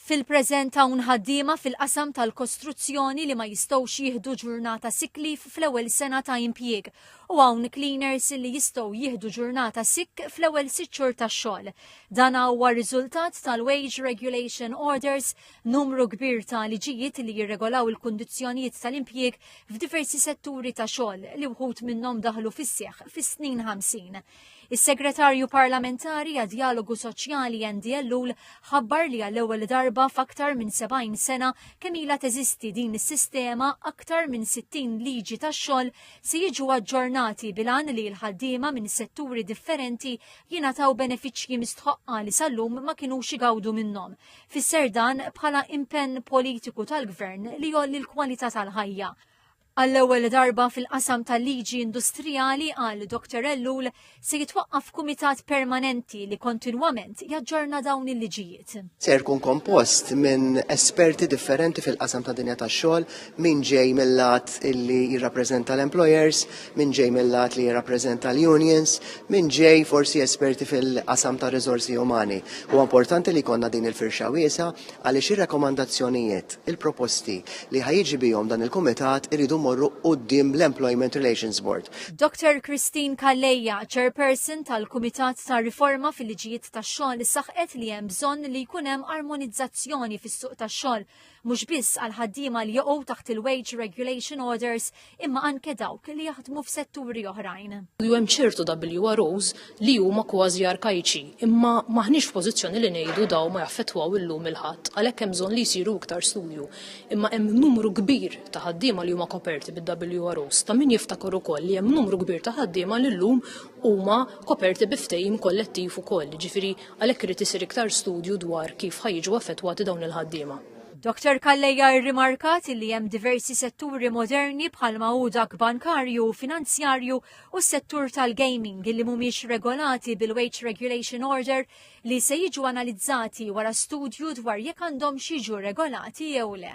Fil-preżent hawn ħaddiema fil-qasam tal-kostruzzjoni li ma jistgħux jieħdu ġurnata sick leave fl-ewwel sena ta' impjieg u hawn cleaners li jistgħu jieħdu ġurnata sick fl-ewwel sitt xhur tax-xogħol. Dan huwa riżultat tal-Wage Regulation Orders, numru kbir ta' liġijiet li jirregolaw il-kundizzjonijiet tal-impjieg f'diversi setturi ta' xogħol li wħud minnhom daħlu fis-seħħ fis-snin 50. Is-Segretarju Parlamentari għad-Djalogu Soċjali Andy Ellul ħabbar li għall-ewwel darba f'aktar minn 70 sena kemm ilha teżisti din is-sistema aktar minn 60 liġi tax-xogħol se jiġu aġġornati bilan li l-ħaddiema minn setturi differenti jingħataw benefiċċji mistħoqqa li sal-lum ma kinux igawdu minnhom. Fisser dan bħala impenn politiku tal-Gvern li jolli l-kwalità tal-ħajja. Għall-ewwel darba fil-qasam tal-liġi industrijali, qal Dr Ellul, se jitwaqqaf kumitat permanenti li kontinwament jaġġorna dawn il-liġijiet. Se jkun kompost minn esperti differenti fil-qasam tad-dinja tax-xogħol, min ġej mil-lat li jirrappreżenta l-employers, min ġej mil-lat li jirrappreżenta l-unions, min ġej forsi esperti fil-qasam tar-riżorsi umani. Huwa importanti li jkollna din il-firxa wiesgħa għaliex ir-rakkomandazzjonijiet, il-proposti li ħa jiġi bihom dan il-kumitat iridu jmorru quddiem l-Employment Relations Board. Doctor Christine Calleja, Chairperson tal-Kumitat ta' Riforma fil-Liġijiet tax-Xogħol saħqet li hemm bżonn li jkun hemm armonizzazzjoni fis-suq tax-xogħol mhux biss għall-ħaddiema li joqgħu taħt il-Wage Regulation Orders imma anke dawk li jaħdmu f'setturi oħrajn. U hemm ċertu WROs li huma kważi arkajċi, imma maħniex f'pożizzjoni li ngħidu daw ma jaffettwaw illum il-ħadd, għalhekk hemm bżonn li jsiru iktar studju. Imma hemm numru kbir ta' ħaddiema li huma koperti bid-WROs. Ta' min jiftakar ukoll li hemm numru kbir ta' ħaddiema li llum huma koperti bi ftehim kollettiv ukoll, ġifieri għalhekk irid isir iktar studju dwar kif ħajġu affettwati dawn il-ħaddiema. Dr Calleja irrimarkat li hemm diversi setturi moderni bħalma hu dak bankarju u finanzjarju u s-settur tal-gaming li mhumiex regolati bil-Wage Regulation Order li se jiġu analizzati wara studju dwar jekk għandhomx jiġu regolati jew le.